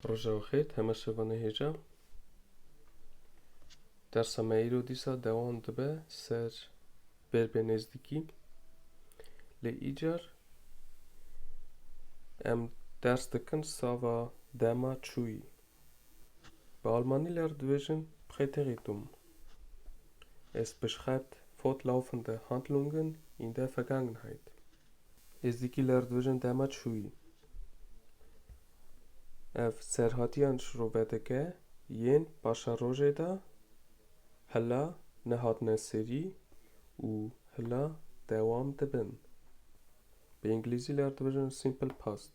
Rojav xêr, heme şeva nehêca. Dersa me îro dîsa dewam dibe ser bêrbê nêzdîkî. Lê îcar em ders dikin sava dema çûyî. Bi almanî ler dibêjin Präteritum. Es beschreibt fortlaufende Handlungen in der Vergangenheit. Êzdîkî ler dibêjin dema çûyî. Ev serhatiyan ji rûvedeke yên paşerojê de hila nehatine serî û hila dewam dibin. Bi îngilîzî ler dibêjin simple past.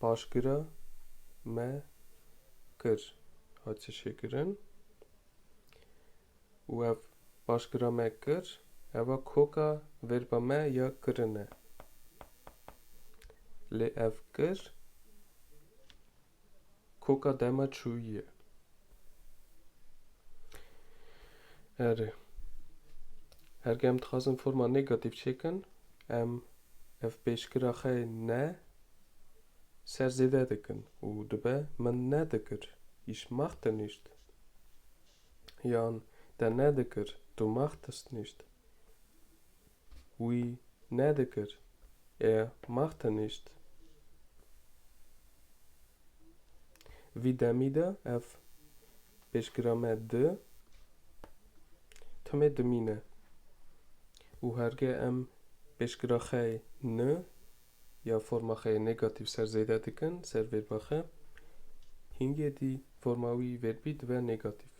Paşgira me kir hat çişêkirin û ev paşgira me kir eva koka verba me ya kirin e. Lê ev kir Koka dema çûyî ye. Erê. Herge em dixwazin forma negatîf çêkin, em ev pêşgira xwe ne ser zêde dikin û dibe min nedikir, ich machte nicht yan te nedikir, du machtest nicht. Wî nedikir. E max tenîşt. Vî demî de ev pêşgira me di timê dimîne û herge em pêşgira xey ni ya forma xeyê negatîf ser zêde dikin ser vêrba xe, hîngê dî forma wî vêrbî dibe negatîf.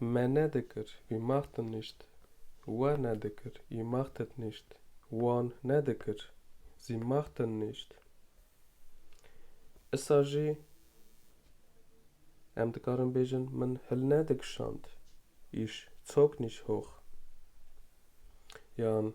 Me nedikir, wî maxtin nîşt. We nedikir, wî maxtet nîşt. Wan nedikir, zî maxtin nîşt. Isa jî em dikarin bêjin min hil nedikişand, îş çok nîşhox. Yan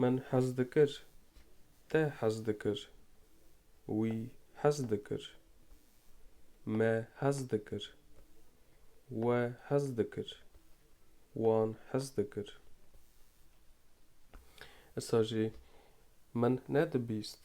Min hez dikir. Te hez dikir. Wî hez dikir. Me hez dikir. We hez dikir. Wan hez dikir. Îsa jî min nedibîst.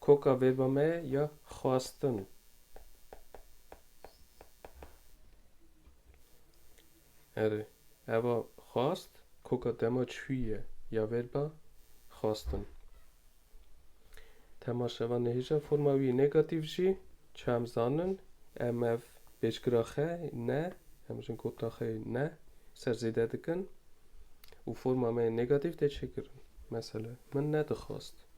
Koka vêrba me ya xwastin. Erê, eva xwast koka dema çûyî ye ya vêrba xwastin. Tema şeva nehêja forma wî negatîf jî çi em zanin em ev pêşgira xe ne em jin kota xê ne ser zêde dikin û forma me yê negatîf tê çêkirin. Mesele min nedixwast.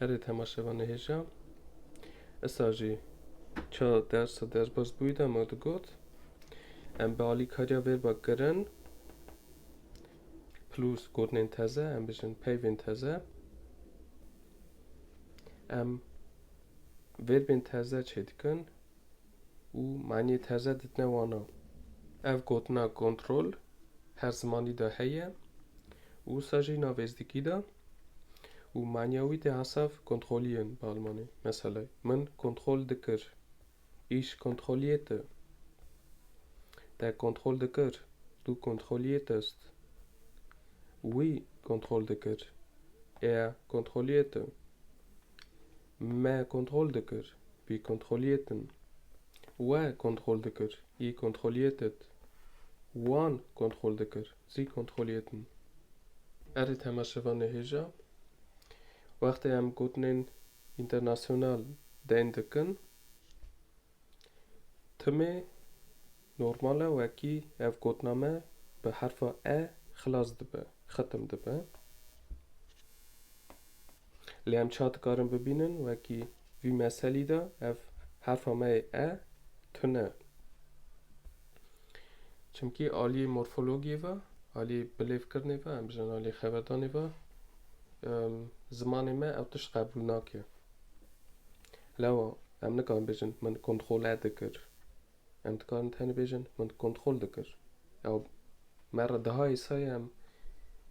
Erê temaşevan nihêja. Esa jî ça dersa derbas bûyî de me digot em bi alîkariya vêrba kirin plus gotinên teze em bijin peyvên teze em vêrbên teze çê dikin û maniyê terze ditine wana. Ev gotina kontrol her zimanî de heye û wisa jî na vêzdikî de û maniya wî tê hesav kontrolî yên bi almanî. Meselay min kontrol dikir, ich kontrollierte. Der kontrol dikir, du kontrolliertest. Wî kontrol dikir, er kontrollierte. Me kontrol dikir, wî kontroliyêtin. We kontrol dikir, yî kontroliyêtit. Wan kontrol dikir, zî kontroliyêtin. Erê temaşevan nehêja. Wextê em gotinên înternasyonal deyn dikin. Timê normal e wekî ev kodname bi herfa E xilas dibe, xetim dibe. Lê em ça dikarin bibînin wekî vî meselî de ev herfa me yê E tune. Çimkî aliyê morfologiyê ve, aliyê bilêvkirinê ve, em bijînin aliyê xeberdanê ve zimanê me ew tişt qebûl nake. Lewwa em nikarin bêjin min kontrole dikir. Em dikarin tenê bêjin min kontrol dikir. Ew me re diha hêsayê em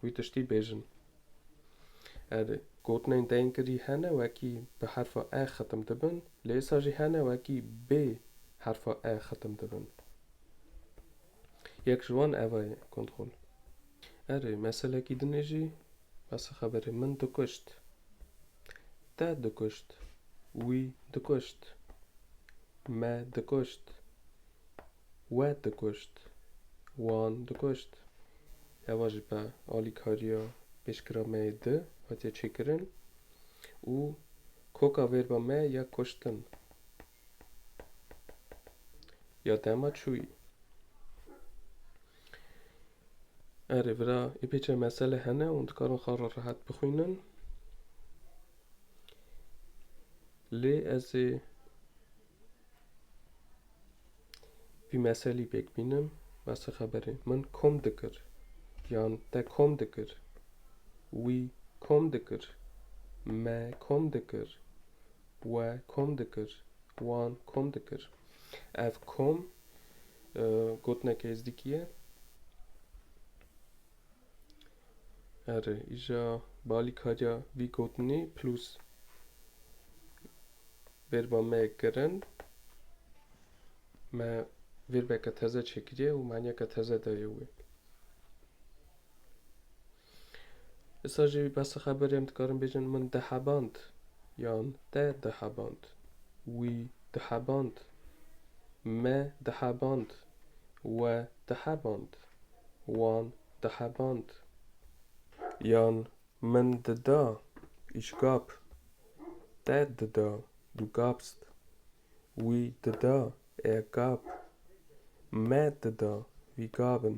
wî tiştî bêjin. Erê, gotinên dengirî hene wekî bi herfa e xetim dibin, lê êsa jî hene wekî bê herfa e xetim dibin. Yek ji wan eva ye, kontrol. Erê, meselekî din ê jî, basê xeberê min dikuşt. Te dikuşt. Wî dikuşt. Me dikuşt. We dikuşt. Wan dikuşt. Eva jî bi alîkariya pêşkira me yê di hatiye çêkirin û koka vêrba me ya kuştin. Ya tema çûyî. Erê vira ê pê çê mesele hene û dikarin xwe re rehet bixwînin. Lê ez ê vî meselî pêk bînim. Basa xeberê min kom dikir. Yan te kom dikir. Wî kom dikir. Me kom dikir. We kom dikir, wan kom dikir. Ev kom gotinek êzdikî ye. Erê, îja balîkariya vî gotinî plus vêrba me kirin. Me vêrbeke teze çêkiriye û maniyeke teze daye wê. Îsa jî behsa xeberê em dikarin bêjin min diheband yan te diheband, wî diheband, me diheband, we diheband, wan diheband yan min dida, ich gab, te dida, du gabst, wî dida, er gab, me dida, wir gaben.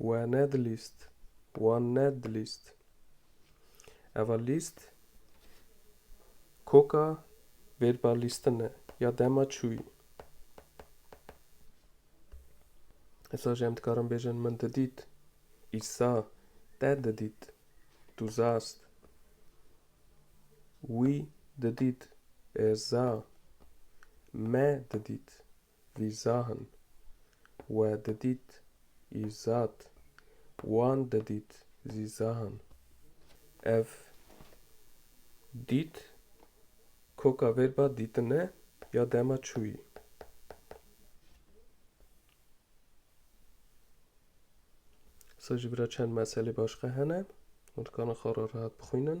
We nedilîst. Wan nedilîst. Eva lîst koka bêrba lîstin e ya dema çûyî. Îsa jî em dikarin bêjin min didît. Îsa te didît. Tu zast. Wî didît. Ez za. Me didît. vîzahin we didît î zat wan didît zîzahin ev dît koka vêr ba dîtine ya dema çûyî. Sa ji bira çend meselê başka hene û dikana xwe re rehat bixwînin.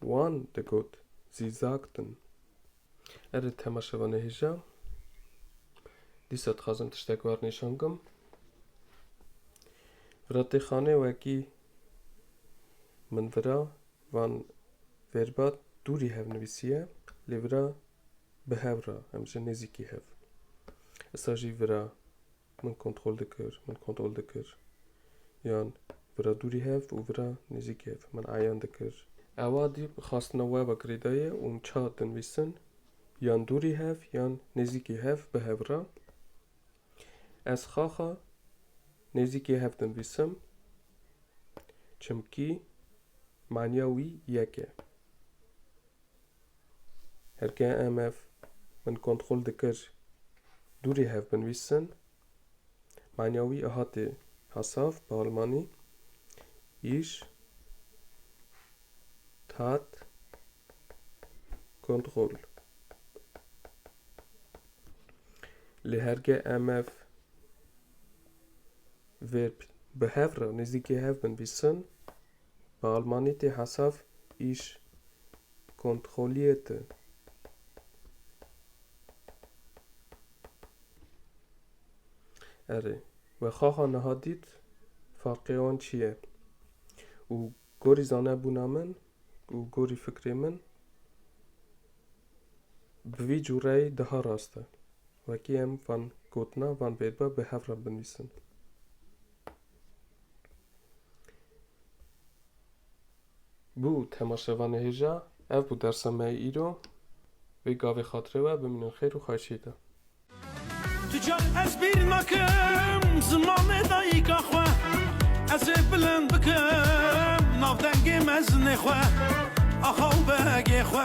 Wan digot zîzak din. Erê tema şeva nehêja. Dîsa dixwazim tiştek war nîşan bikim. Ratêxanê wekî min vira van verbat dûrî hev nivîsiye lê vira bi hev ra em ji nêzîkî hev. Îsa jî vira Min kontrol dikir, min kontrol dikir. Yan vira dûrî hev û vira nêzîkî hev min eyan dikir. Ewa dî bi xastina weba girêdayî û min çax dinvîsin yan dûrî hev yan nêzîkî hev bi hev re. Ez xaxa nêzîkî hev dinvîsim çimkî manîya wî yek e. Herkê em ev min kontrol dikir dûrî hev binvîsin. Manya wî hatê Hasav bi almanî. Îş tat kontrol. Lê herkê em ev verb bi hev re nêzîkê hev binvîsin. Bi almanî tê hesav iş kontrollierte. Erê, we xaxa niha dît farqê wan çi ye û gorî zanebûna min û gorî fikrê min bi vî cûreyî daha rast e. Wekî em van gotina van vêrba bi hev re binivîsin. Bû temaşeva nehêja, ev bû dersa me yê îro. Vê gavê xatirê we bimînin xêr û xweşî de. Tu car ez bîr nakim zimanê dayîka xwe Ez ê bilind bikim navdengê mezinê xwe Axa û begê xwe.